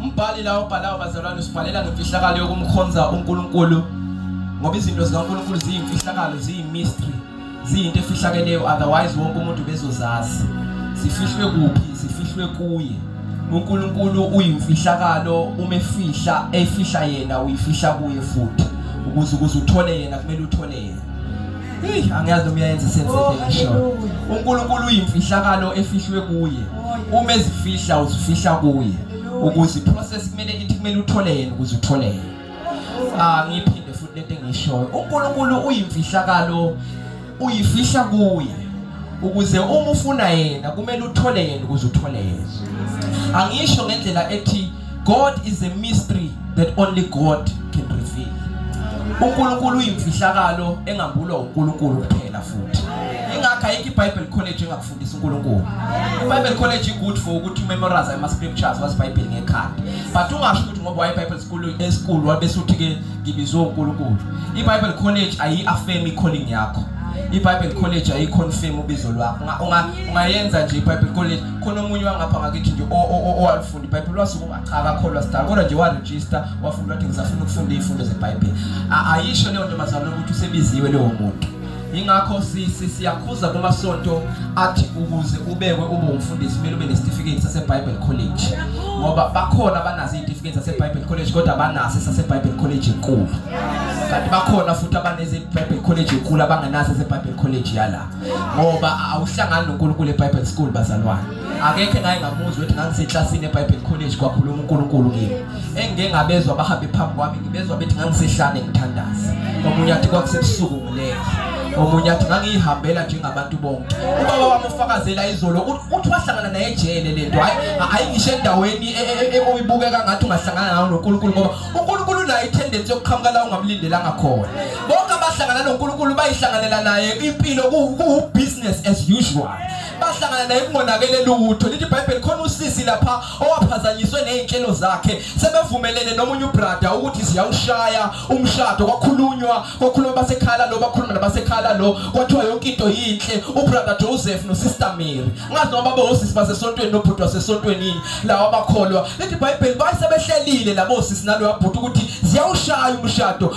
Umbhali la obhalayo bazalwane usibhalela ngemfihlakalo yokumkhonza uNkulunkulu ngoba izinto zikaNkulunkulu ziyimfihlakalo ziyimystery ziyinto efihlakeleyo otherwise wonke umuntu bezozazi sifihlwe kuphi sifihlwe kuye uNkulunkulu uyimfihlakalo uma efihla efihla yena uyifihla kuye futhi ukuze ukuze uthole yena kumele uthole yena Hey, angiyazi noma uyayenza sense Oh, into eshoyo. hallelujah. uNkulunkulu uyimfihlakalo efihlwe kuye Oh, uma ezifihla uzifihla kuye ukuze iprocess kumele ithi kumele uthole yena ukuze uthole yena ah ngiphinde futhi lento engishoyo uNkulunkulu uyimfihlakalo uyifihla kuye ukuze uma ufuna yena kumele uthole yena ukuze uthole yena angisho ngendlela ethi God is a mystery that only God can reveal. UNkulunkulu uyimfihlakalo engambulwa uNkulunkulu kuphela futhi. Ingakho ayikho iBible College engakufundisa uNkulunkulu. IBible College igood for ukuthi memorize ama scriptures was Bible ngekhanda. But ungasho ukuthi ngoba waye Bible school esikulu wabese uthi ke ngibizwe uNkulunkulu. IBible College ayi affirm calling yakho. iBible College ayiconfirm ubizo lwakho ungayenza nje iBible College khona omunye wangapha ngakithi nje owalifunda fundi ibhayibheli wasukuma cha akakholwa sidala kodwa nje warejista wafunda wathi ngisafuna ukufunda iy'fundo zebhayibheli ayisho leyo ntombazane ukuthi usebiziwe leyo muntu yingakho siyakhuza kumasonto athi ukuze ubekwe ube umfundisi kumele ube nesitifiketi sasebible college ngoba bakhona abanazo iy'tifiketi zasebible college kodwa banaso esasebible college enkulu kanti bakhona futhi abanezebible college enkulu abangenaso esebible college yala ngoba awuhlangani nonkulunkulu ebible school bazalwane akekho engake ngamuzwa ukuthi ngangiseklasini eBible College kwakhuluma uNkulunkulu kimi engike ngabezwa abahambe phambi kwami ngibezwa bethi ngangisehlane ngithandaza omunye athi kwakusebusuku ngilele omunye athi ngangiyihambela njengabantu bonke ubaba wami ufakazela izolo uthi wahlangana naye ejele lento hayi ayingisho endaweni e, e, e, ekuyibukeka ngathi ungahlangana nawo noNkulunkulu ngoba uNkulunkulu unayo itendency yokuqhamuka la ungamlindelanga khona bonke abahlangana noNkulunkulu bayihlanganela naye impilo kuwubusiness as usual bahlangana naye kungonakele lutho lithi ibhayibheli khona usisi lapha owaphazanyiswe nezinhlelo zakhe sebevumelene nomunye ubrada ukuthi siyawushaya umshado kwakhulunywa kwakhuluma basekhala lo bakhuluma nabasekhala lo kwathiwa yonke into yinhle ubrada Joseph nosister Mary ngazi noma baba osisi basesontweni nobhuti wasesontweni yini lawa bakholwa lithi ibhayibheli bayisebehlelile labo sisi nalo yabhuti ukuthi ziyawushaya umshado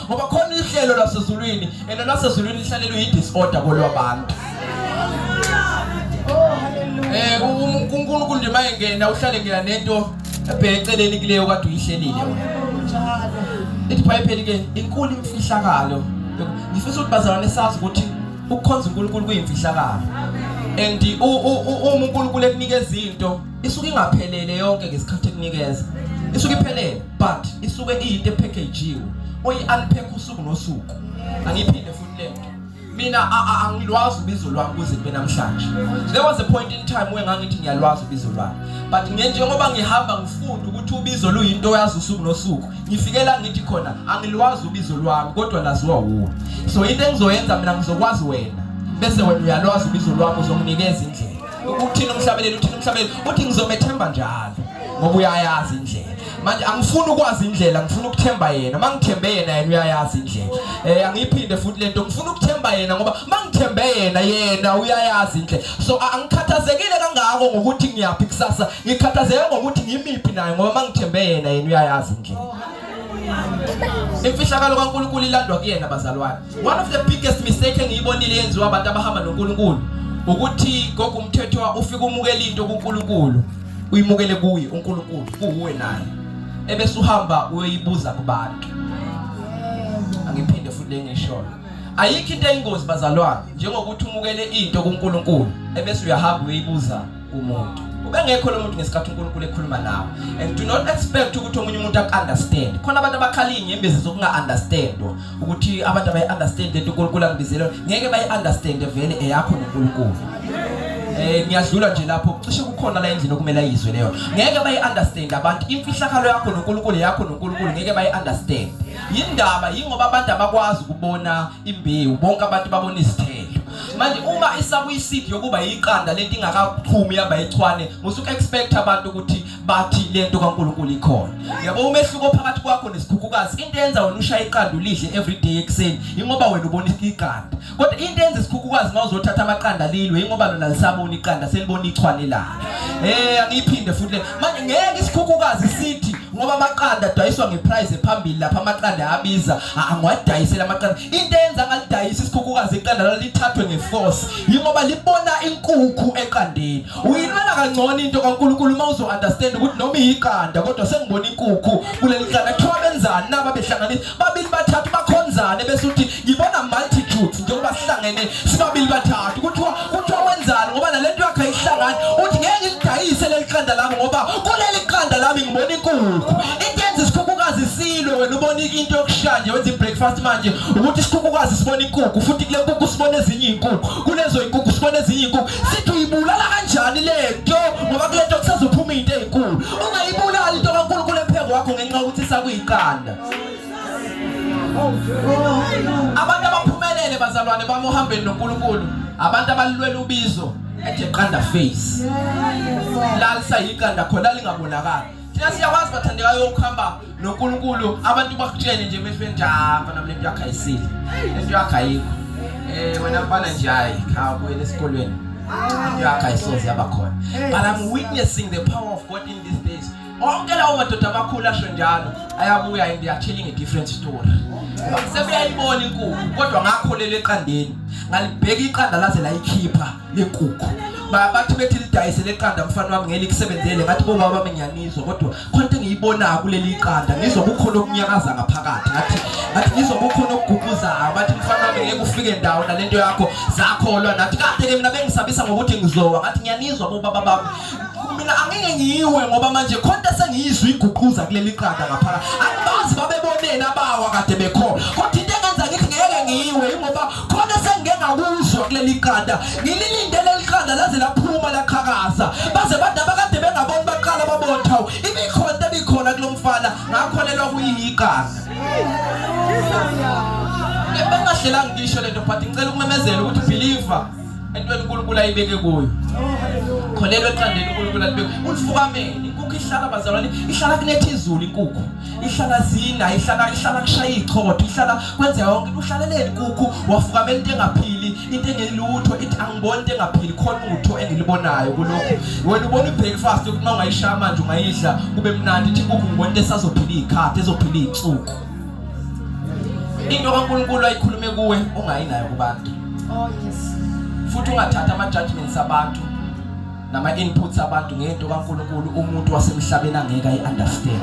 ngoba khona ihlelo lasezulwini and lasezulwini lihlalelwe yi-disorder kolwabantu eh uNkulunkulu nje mayengena uhlale ngena nento ebheceleni kuleyo kade uyihlelile ithi bhayibheli ke inkulu imfihlakalo ngifisa ukuthi bazalwane sazi ukuthi ukukhonza uNkulunkulu kuyimfihlakalo and uma uNkulunkulu ekunikeza into isuke ingaphelele yonke ngesikhathi ekunikeza isuke iphelele but isuke iyinto ephekejiwe oyi-unpack usuku nosuku angiphinde futhi le nto mina angilwazi ubizo lwami kuze kube namhlanje there was a point in time where ngangithi ngiyalwazi ubizo lwami but njengoba ngihamba ngifunda ukuthi ubizo luyinto oyazi usuku nosuku ngifikela ngithi khona angilwazi ubizo lwami kodwa laziwa wuwe so into engizoyenza mina ngizokwazi wena bese wena uyalwazi ubizo lwami uzonginikeza indlela Uthini umhlabeleli uthini umhlabeleli uthi ngizomethemba njalo ngoba uyayazi indlela manje angifuni ukwazi indlela ngifuna ukuthemba yena mangithembe yena yena uyayazi indlela eh angiphinde futhi lento ngifuna ukuthemba yena ngoba mangithembe yena yena uyayazi indlela so angikhathazekile kangako ngokuthi ngiyaphi kusasa ngikhathazeke ngokuthi ngimiphi naye ngoba mangithembe yena yena uyayazi indlela imfihlakalo kaNkuluNkulu ilandwa kuyena bazalwane One of the biggest mistake engiyibonile yenziwa abantu abahamba noNkulunkulu ukuthi gogo umthethwa ufika umukela into kuNkulunkulu uyimukele kuye uNkulunkulu kuwe naye ebese uhamba uyoyibuza kubantu angiphinde futhi lengishoyo ayikho into eyingozi bazalwane njengokuthi umukele into kuNkulunkulu ebese uyahamba uyoyibuza kumuntu ubengekho lo muntu ngesikhathi uNkulunkulu ekhuluma nawe and do not expect ukuthi omunye umuntu akunderstand khona abantu abakhala inyembezi zokunga-understandwa ukuthi abantu abayi-understand lento uNkulunkulu angibizelwe ngeke bayi-understand vele eyakho noNkulunkulu eh ngiyadlula nje lapho cishe kukhona la endlini okumele ayizwe leyo ngeke bayi-understand abantu imfihlakalo yakho noNkulunkulu yakho noNkulunkulu ngeke bayi-understand yindaba yingoba abantu abakwazi ukubona imbewu bonke abantu babona izithelo manje uma isakuyiseed yokuba yiqanda lento ingakaphumi yaba yichwane musuke expect abantu ukuthi bathi lento kaNkuluNkulu ikhona yabo umehluko phakathi kwakho nesikhukhukazi into yenza wena ushaya iqanda ulidle every day ekseni ingoba wena ubona iqanda kodwa into yenza isikhukhukazi mawuzothatha amaqanda lilwe ingoba lona lisabona iqanda selibona ichwane la eh angiphinde futhi manje ngeke isikhukhukazi sithi ngoba amaqanda adayiswa ngeprice ephambili lapha amaqanda ayabiza angiwadayisela amaqanda into eyenza ngalidayisa isikhukhukazi iqanda lalithathwe ngeforce yingoba libona inkukhu eqandeni uyinwela kangcono into kaNkulunkulu uma uzo-understand ukuthi noma iyiqanda kodwa sengibona inkukhu kuleli qanda kuthiwa benzani naba behlanganisa babili bathathu bakhonzane bese uthi ngibona multitudes njengoba sihlangene sibabili bathathu kuthiwa kuthiwa wenzani ngoba nalento yakhe ayihlangani uthi ngeke ngilidayise leli qanda lami ngoba kuleli qanda lami ngibona inkukhu into yenza isikhukhukazi silwe wena ubona into yokushaya nje wenza i-breakfast manje ukuthi isikhukhukazi sibona inkukhu futhi kule nkukhu sibona ezinye iy'nkukhu kulezo y'nkukhu sibona ezinye iy'nkukhu sithi uyibulala kanjani le nto ngoba kule nto kusazophuma into ey'nkulu ungayibulalali into kankulunkulu epheko wakho ngenxa yokuthi sakuyiqanda abantu abaphumelele bazalwane bami ohambeni noNkulunkulu abantu abalilwela ubizo ethi qanda face lalisa yiqanda khona lingabonakala thina siyakwazi bathandekayo ukuhamba noNkulunkulu abantu bakutshene nje emehlweni nje hamba nami lento yakho ayisile lento yakho ayikho eh wena mfana nje hayi khawuyele esikolweni lento yakho ayisoze yaba khona but i'm witnessing the power of god in these days onke lawo madoda amakhulu asho njalo ayabuya and they are telling a different story sebuyayibona inkukhu kodwa ngakholela eqandeni ngalibheka iqanda laze layikhipha lenkukhu bathi bethi lidayise leqanda mfana wami ngeke likusebenzele ngathi bo baba ngiyanizwa kodwa khonto engiyibona kuleli iqanda ngizwa kukhona okunyakaza ngaphakathi ngathi ngathi ngizwa kukhona okuguquzayo bathi mfana wami ngeke ufike ndawo nalento yakho zakholwa nathi kade ke mina bengisabisa ngokuthi ngizowa ngathi ngiyanizwa bo baba bami mina angeke ngiwe ngoba manje khonta sengiyizwa iguquza kuleli qanda ngaphaka angibazi babeboneni abawa kade bekhona kodwa into engenza ngithi ngeke ngiwe ingoba khona sengike ngakuzwa kuleli qanda ngililinde leli qanda laze laphuma laqhakaza baze bada bakade bengaboni baqala babona hawu imikhonta ebikhona kulomfana ngakholelwa kuyiqanda bengahlelanga ngisho lento but ngicela ukumemezela ukuthi believer entweni uNkulunkulu ayibeke kuyo kholelwa eqandeni uNkulunkulu alibeke ulifukamele inkukhu ihlala bazalwane ihlala kunetha izulu inkukhu ihlala zina ihlala ihlala kushaya ichotho ihlala kwenza yonke uhlaleleni inkukhu wafukamela into engaphili into engelutho ithi angiboni into engaphili khona utho engilibonayo kulokho wena ubona ibreakfast ukuthi uma ungayishaya manje ungayidla kube mnandi ithi inkukhu ngibona into esazophila iy'khathi ezophila iy'nsuku into kaNkulunkulu ayikhulume kuwe ungayinayo kubantu oh yes futhi ungathatha ama judgments abantu nama inputs abantu ngento kaNkulunkulu umuntu wasemhlabeni angeke ayi understand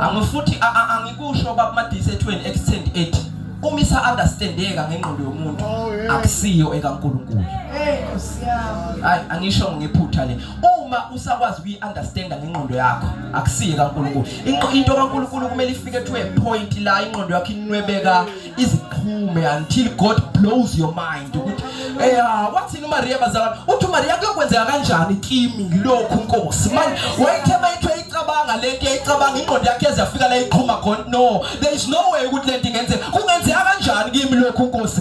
angifuthi angikusho baba madisethweni extend ethi uma isa understandeka ngengqondo yomuntu oh, akusiyo ekaNkulunkulu hey kusiyami hayi angisho ngephutha le uma usakwazi ukuyi understand ngengqondo yakho akusiyo ekaNkulunkulu into kaNkulunkulu kumele ifike to a point la ingqondo yakho inwebeka iziphume until God blows your mind ukuthi eh ah, wathini uMaria bazalwane uthi uMaria kuyokwenzeka kanjani kimi ngilokhu inkosi manje wayithema ithe icabanga lento icabanga ingqondo yakhe ezafika la iqhuma khona no there is no way ukuthi lento ingenzeka kungenzeka kanjani kimi lokhu inkosi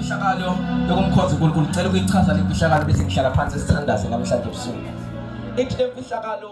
Imfihlakalo yokumkhonza uNkulunkulu ngicela ukuyichaza le mfihlakalo bese ngihlala phansi sithandaze namhlanje ebusuku. Ithi le mfihlakalo